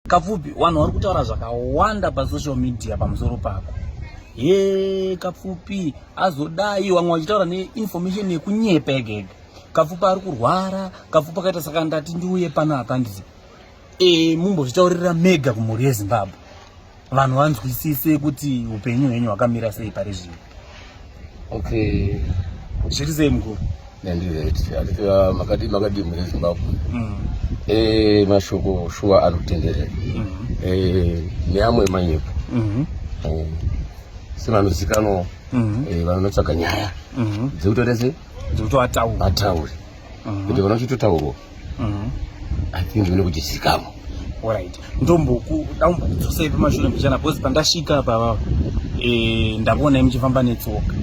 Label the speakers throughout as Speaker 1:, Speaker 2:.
Speaker 1: Kapfupi, vanhu vari kutaura zvakawanda pasocial media pamusoro pako. He, Kapfupi azodai vamwe vachitaura neinformation yekunyepa egega. Kapfupi ari kurwara, Kapfupi akaita saka ndati ndiuye pano apa ndizi. E, mumbozvitaurira mega kumhuri yeZimbabwe. Vanhu vanzwisise kuti upenyu hwenyu hwakamira sei pari zvino. Okay. Zviri sei mkuru? Ndandireta. Makadii makadii mune Zimbabwe. Mm. Eh mashoko shuwa anotenderera. Mm. Eh neamwe manyepo. Mm. Eh sevanozikanwa mm. eh vanotsvaga nyaya. Mm. Dzekutorese dzekutoataura. Ataure. Mm. Kuti vanochitotaurwa. Mhm. I think mune kuti zikamo. Alright. Ndomboku ndambokudzosei pamashure mbichana because pandasvika apa baba eh ndabona muchifamba netsoka.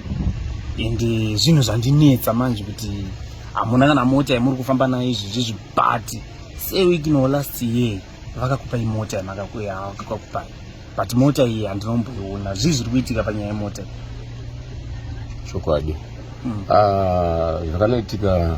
Speaker 1: Ende zvinhu zvandinetsa manje kuti hamuna kana mota yamuri kufamba nayo izvi zvizvi but say week no last year vakakupa imota yamakakuya vakakupai but mota iyi handinomboiona zvii zviri kuitika panyaya yemota chokwadi mm. ah, zvakanoitika mm. uh,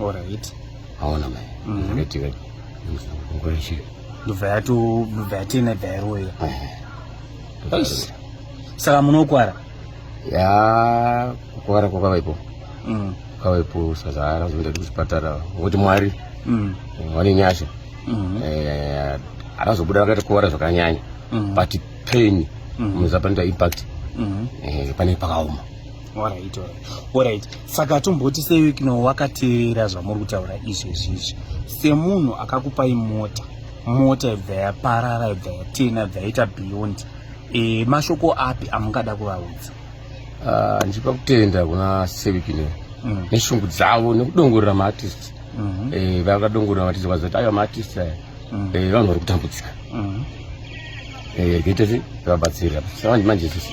Speaker 1: Alright. Aona mai. Mhm. Ndakati ka ngora shi. Ndobva yato ndobva yatena ibva yaroya. Yes. Saka munokwara. Ya kukwara kwa kavaipo. Mm. Kavaipo sazara zvoenda kuchipatara. Woti mwari. Mm. Wani nyasha. Mm. Eh akazobuda vakaita kuwara zvakanyanya mm. but pain mm. muzapanda impact mm. eh, pane pakaoma Alright, alright. Alright. Saka tomboti sei kino wakateerera zvamuri kutaura izvi izvi. Semunhu akakupai mota, mota ibva yaparara ibva yatena ibva yaita beyond. E, mashoko api amungada kuvaudza? Uh, ndichipa kutenda kuna Sevikino mm. neshungu dzavo nekudongorera maartist mm -hmm. e, eh, vakadongorera maartist vazoti ayo maartist aya mm. e, vanhu vari kutambudzika mm. e, gete vabatsira manje sisi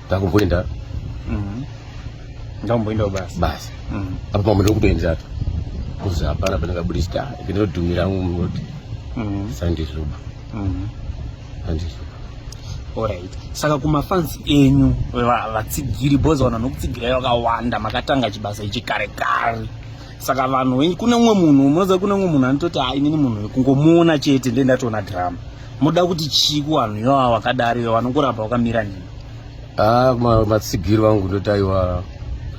Speaker 1: ndakumboenda mhm. ndakumboendawo basi basi mhm. apa pamwe ndokutoendera apa kuzi hapana pandingabudisa ndinodhumira angu munoti mhm. sandizuba sandizuba Alright. Saka kumafans enyu vatsigiri bozi vanhu vanokutsigirai vakawanda makatanga chibasa ichi kare kare. saka vanhu wenyu kune umwe munhu munoziva kune umwe munhu anototi ha inini munhu kungomuona chete nde ndatoona drama moda kuti chii kuvanhu iwava wakadari iwe vanongoramba wakamira nini ha ah, matsigiri vangu ndoti aiwa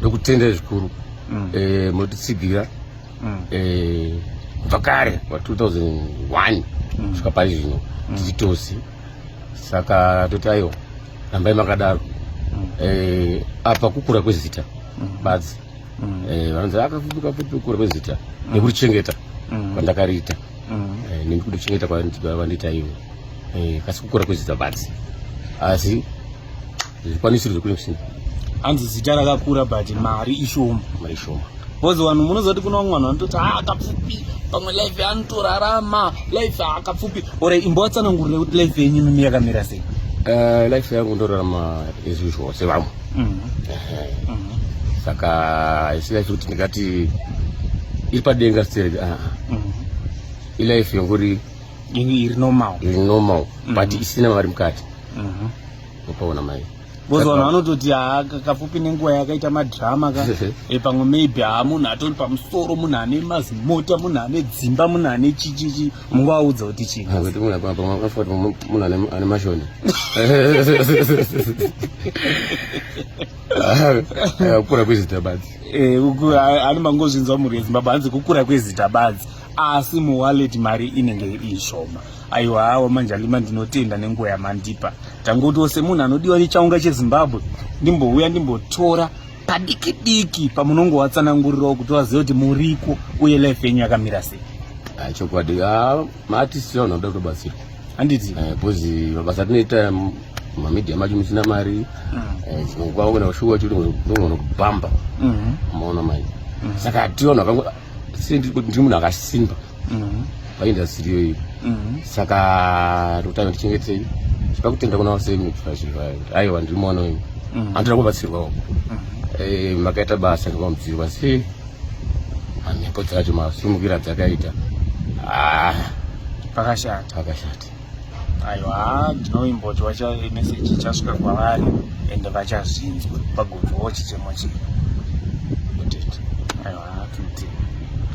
Speaker 1: ndokutenda zvikuru mm. eh, motitsigira mm. eh, kubva kare wa 2001 mm. kusvika pari zvino tichitosi saka toti aiwa rambai makadaro eh, apa kukura kwezita badzi mm. eh, vanonzi akafupuka fupukura kwezita mm. nekurichengeta mm. kwandakariita mm. eh, nekurichengeta kwandiita ivo eh, kasi kukura kwezita basi asi zvikwanisiro zvekune kusina hanzi zita rakakura but mari ishoma mari ishoma bcause vanhu munozoti kuna vamwe vanhu vanototi ha ah, akapfupi pamwe life anotorarama life akapfupi or imbo vatsanangurire kuti life yenyu mimi yakamira sei eh, life yangu ndorarama as usual sevamwe mm -hmm. saka isina kuti ndingati iri padenga sitereki ah, ah. mm -hmm. ilife yongori iri normal iri normal mm -hmm. but mhm. isina mari mukati mm -hmm. upaona mai because vanhu vanototi haa kafupi nenguva yakaita madrama ka e pamwe maybe haa munhu atori pamusoro munhu ane mazimota munhu ane dzimba munhu ane chichichi mungoaudza kuti chii ah, kuti munhu apa makafuka kuti munhu ane mashoni ah, kukura kwezita badzi eh, ani mangozvinzwa mhuri yezimbabwe hanzi kukura kwezita badzi asi muwallet mari inenge iri shoma aiwa hawa manje alima ndinotenda nenguva yamandipa tangotiwo semunhu anodiwa nechaunga chezimbabwe ndimbouya ndimbotora padiki diki pamunongovatsanangurirawo kuti vazive kuti muriko uye life yenyu yakamira sei ah, chokwadi ah, maartist vanhu vanoda kutobatsirwa handiti eh, bcause mabasa atinoita mamedia macho musina mari mm. eh, chinokwavo kana kushuwa chiri unogona kubhamba maona mm-hmm. mai mm-hmm. saka tiona ndiri munhu akasimba mhm. paindastiri iyoyi mhm. saka rutano tichengetei tipa kutenda kuna vaseaiwa ndiri mwana wenyu mhm. andoda kubatsirwawo eh, makaita basa ngemamudzirwa se mhepo dzacho masimukira dzakaita ah. pakashata pakashata aiwa ndinoimbotwa meseji ichasvika kwavari ende vachazvinzwa vagonzwawo chichemo chino aiwa tinti